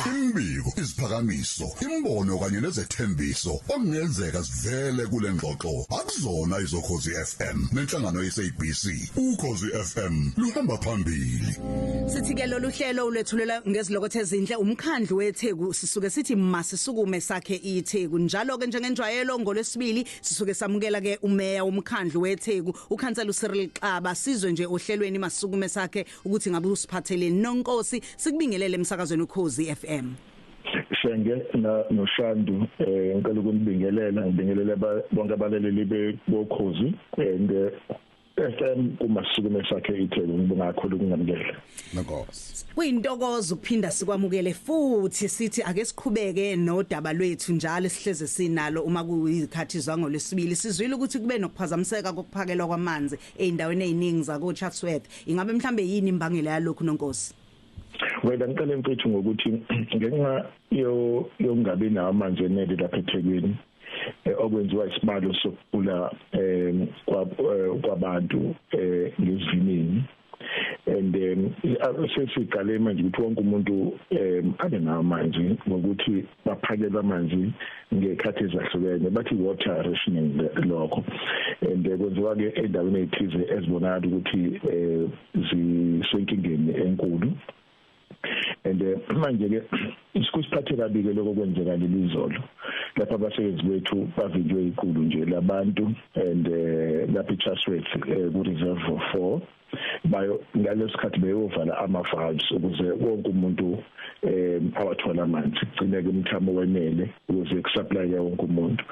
Imbiko, iziphakamiso, imbono kanye nezethembiso okungenzeka sivele kule ngxoxo akuzona izokhozi FM nenhlangano yeSABC. Ukhozi FM luhamba phambili. Sithi ke lolu hlelo ulethulela ngezilokothe ezinhle umkhandlu weTheku sisuke sithi masisukume sakhe iTheku. Njalo ke njengenjwayelo ngolwesibili sisuke samukela ke umeya womkhandlu weTheku uKhansela uCyril Xaba sizwe nje ohlelweni masisukume sakhe ukuthi ngabe usiphatheleni nonkosi sikubingelele emsakazweni ukhozi FM Shenge na noShandu eh ngicela ukunibingelela ngibingelele bonke abaleleli bokhozi and eh, FM kumasukume sakhe ithele ngibonga kakhulu kungamukele nkosi kuyintokozo ukuphinda sikwamukele futhi sithi ake siqhubeke nodaba lwethu njalo sihleze sinalo uma kuyizikhathi zangolesibili sizwile ukuthi kube nokuphazamiseka kokuphakelwa kwamanzi ezindaweni eziningi zako Chatsworth ingabe mhlambe yini imbangela yalokhu nonkosi Wena ngicela mfethu ngokuthi ngenxa yo yokungabi nawo amanzi enele lapha eThekwini eh, okwenziwa isibalo sokugula eh, eh kwabantu eh, ngezivinini and um sesiqale manje ukuthi wonke umuntu um abe namanzi ngokuthi baphakelwa amanzi ngekhathi ezahlukene bathi water rationing lokho and eh, kwenziwa ke endaweni ezithize ezibonakala ukuthi eh, zisenkingeni enkulu and eh, manje ke isikusiphathe kabi ke lokho kwenzeka leli izolo lapha abasebenzi bethu bavinjwe iqulu nje labantu and lapha iChasworth ku reserve 4 bayo ngalesikhathi beyovala ama valves ukuze wonke umuntu eh awathola amanzi kugcine ke umthamo wenele ukuze kusupply wonke umuntu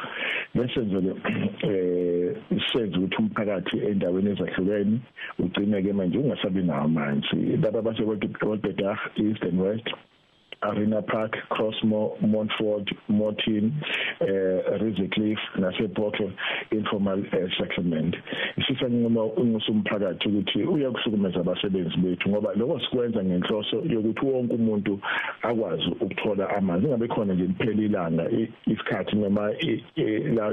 bese nje eh isenze ukuthi umphakathi endaweni ezahlukene ugcine ke manje ungasabi nawo amanzi laba basekwethu kodwa east and west Arena Park, Crossmore, Montford, Morton, uh, eh, Rizicliff naseBokke informal uh, settlement. Sisa nginquma ungusumphakathi ukuthi uyakuhlukumeza abasebenzi bethu ngoba lokho sikwenza ngenhloso yokuthi wonke umuntu akwazi ukuthola amanzi ingabe khona nje kuphela ilanga isikhathi noma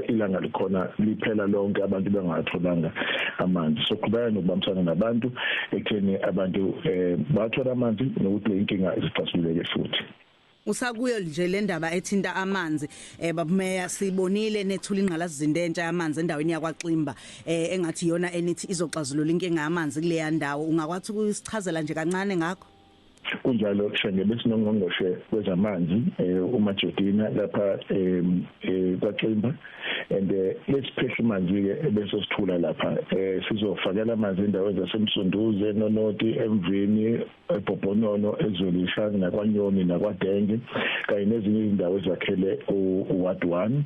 ilanga likhona liphela lonke abantu bengatholanga amanzi so qhubeka nokubambisana nabantu ekutheni abantu eh, bathola amanzi nokuthi le inkinga izixazululeke futhi usakuyo nje le ndaba ethinta amanzi eh babumeya sibonile nethula ingqalasizinda entsha yamanzi endaweni yakwaXimba eh engathi iyona enithi izoxazulula inkinga yamanzi kuleya ndawo ungakwathi ukusichazela nje kancane ngakho kunjalo shenge besinongqongqoshe wezamanzi eh, uMajodina lapha eh, kwaXimba and eh, lesiphehla amanzi ke bese sithula lapha sizofakela amanzi endaweni zasemsunduze nonoti emvini ebhobhonono ezweni ishanga nakwanyoni nakwadenge kanye nezinye izindawo ezakhele uward 1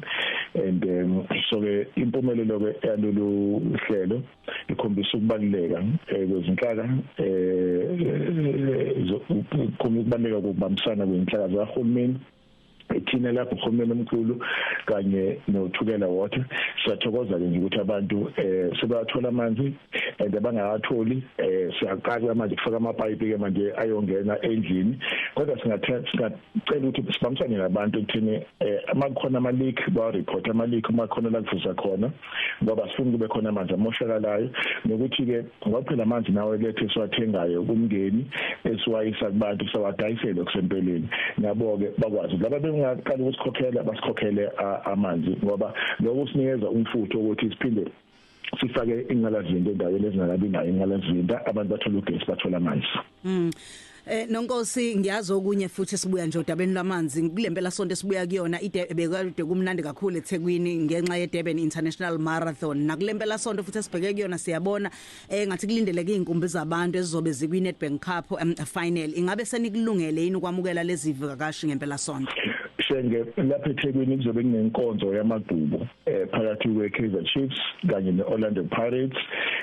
and um, so ke impumelelo ke yalolu hlelo ikhombisa ukubaluleka eh, kwezinhlaka eh, ikhombisa ukubaluleka kokubambisana kwezinhlaka zahulumeni ithina lapho uhulumeni omkhulu kanye nothukela water siyathokoza ke nje ukuthi abantu eh sebathola amanzi and abangawatholi eh siyaqala manje kufaka amapipe ke manje ayongena endlini kodwa singathela singacela ukuthi sibambisane nabantu ekuthini eh amakhona ama leak ba report ama leak uma khona la kuvuza khona ngoba sifuna kube khona amanzi amoshakalayo nokuthi ke ngoba phela amanzi nawe lethe siwathengayo kumngeni esiwayisa kubantu sawadayisele kusempeleni nabo ke bakwazi laba bengaqala ukusikhokhela basikhokhele amanzi ngoba lokho sinikeza umfutho ukuthi siphinde sifake ingqalazinda endaweni ezingakabi nayo ingqalazinda abantu bathola ugesi bathola amanzi Mm. Eh nonkosi ngiyazi okunye futhi sibuya nje odabeni lwamanzi kulempela sonto sibuya kuyona ibekade kumnandi kakhulu eThekwini ngenxa yeDurban International Marathon nakulempela sonto futhi sibheke kuyona siyabona eh ngathi kulindeleke izinkumbi zabantu ezizobe zikwi Nedbank Cup um, final ingabe senikulungele yini ukwamukela lezi vakashi ngempela sonto Shenge lapha eThekwini kuzobe kunenkonzo yamagqubu eh phakathi kweKaizer Chiefs kanye neOrlando Pirates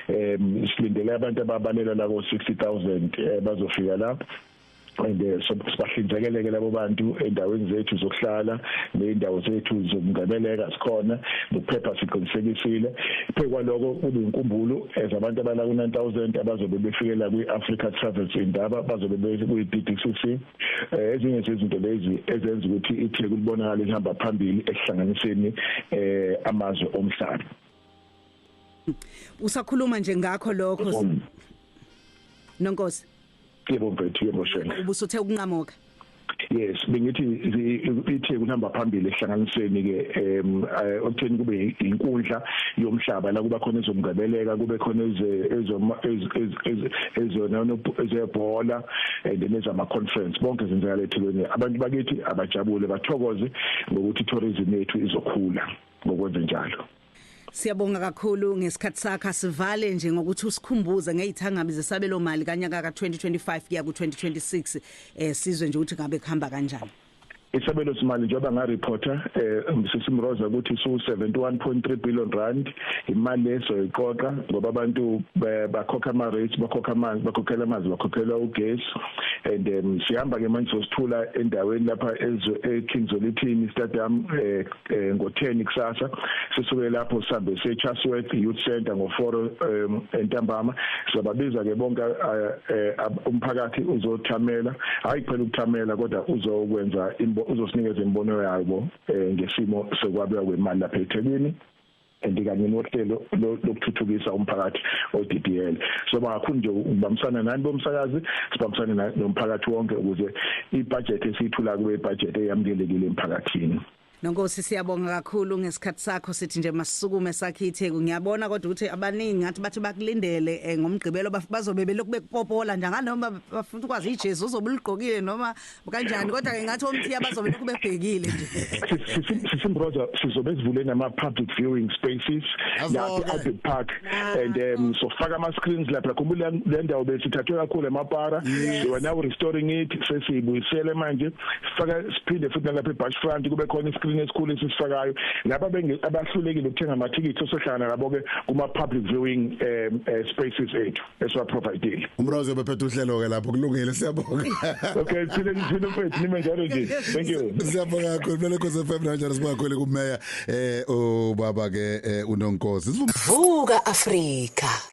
eh silindele abantu ababalela la ko 60000 eh, bazofika lapho and eh, sibahlinzekeleke labo bantu endaweni zethu zokuhlala nezindawo zethu zokungeneleka sikhona nokuphepha siqinisekisile phekwaloko kube inkumbulo ezabantu abala ku 9000 abazobe befikela kwi Africa Travels indaba bazobe kuyi DDCC eh, ezinye zezinto lezi ezenza ukuthi iTheku libonakale lihamba phambili ekuhlanganiseni eh amazwe omhlaba usakhuluma nje ngakho lokho nonkosi yebo mfethu yebo shenge ubusuthe ukunqamuka yes bengithi ithe kunamba phambili ehlanganisweni ke em eh, okutheni kube inkundla yomhlaba la kuba khona ezomgabeleka kube khona ezoma ezona ezebhola and then ezama conference bonke zenzeka lethulweni abantu bakithi abajabule bathokoze ngokuthi tourism yethu izokhula ngokwenze njalo Siyabonga kakhulu ngesikhathi sakhe sivale nje ngokuthi usikhumbuze ngezithangabi zesabelo mali kanyaka ka 2025 kuya ku 2026 eh sizwe nje ukuthi ngabe kuhamba kanjani isabelo simali njengoba ngareporter eh Mrs Mroza ukuthi su 71.3 billion rand imali leso iqoqa ngoba abantu bakhokha ama rates bakhokha amanzi bakhokhela amanzi bakhokhela ugesi and um, sihamba ke manje sosithula endaweni lapha ezo eKingsolithini stadium eh eh, ngo-10 kusasa sisuke lapho sihambe siye Chatsworth Youth Centre ngo-4 um, entambama siyababiza ke bonke eh, eh, umphakathi uzothamela hayi kuphela ukuthamela kodwa uzokwenza uzosinikeza imbono yabo ngesimo sokwabeka kwemali lapha eThekwini and kanye nohlelo lokuthuthukisa umphakathi oDDL so bangakhulu nje ukubambisana nani bomsakazi sibambisane nomphakathi wonke ukuze ibudget esiyithula kube ibudget eyamukelekile emphakathini Nonkosi siyabonga kakhulu ngesikhathi sakho sithi nje masisukume sakhe itheku ngiyabona kodwa ukuthi abaningi ngathi bathi bakulindele eh, ngomgqibelo bazobe belokhu bekupopola nje nganoma bafuna ukwazi iJesu uzobuligqokile noma kanjani kodwa ke ngathi omthiya bazobe lokhu bebhekile nje sisimroza sizobe sivule nama public viewing spaces lapha Albert Park ah. and um sofaka ama screens lapha khumbula le ndawo besithathwe kakhulu emapara we are now restoring it sesiyibuyisele manje sifaka siphinde futhi lapha eBash Front kube khona iscreen esikhulu esisifakayo laba abahlulekile ukuthenga amathikithi osohlangana labo ke kuma public viewing um, uh, spaces ethu esiwa providile umrozo bephethe uhlelo ke lapho kulungile siyabonga okay phile ngiphile mfethu nime njalo nje thank you siyabonga kakhulu mina lokho FM Rangers sibakhwele kumeya eh ubaba ke eh, unonkosi vuka afrika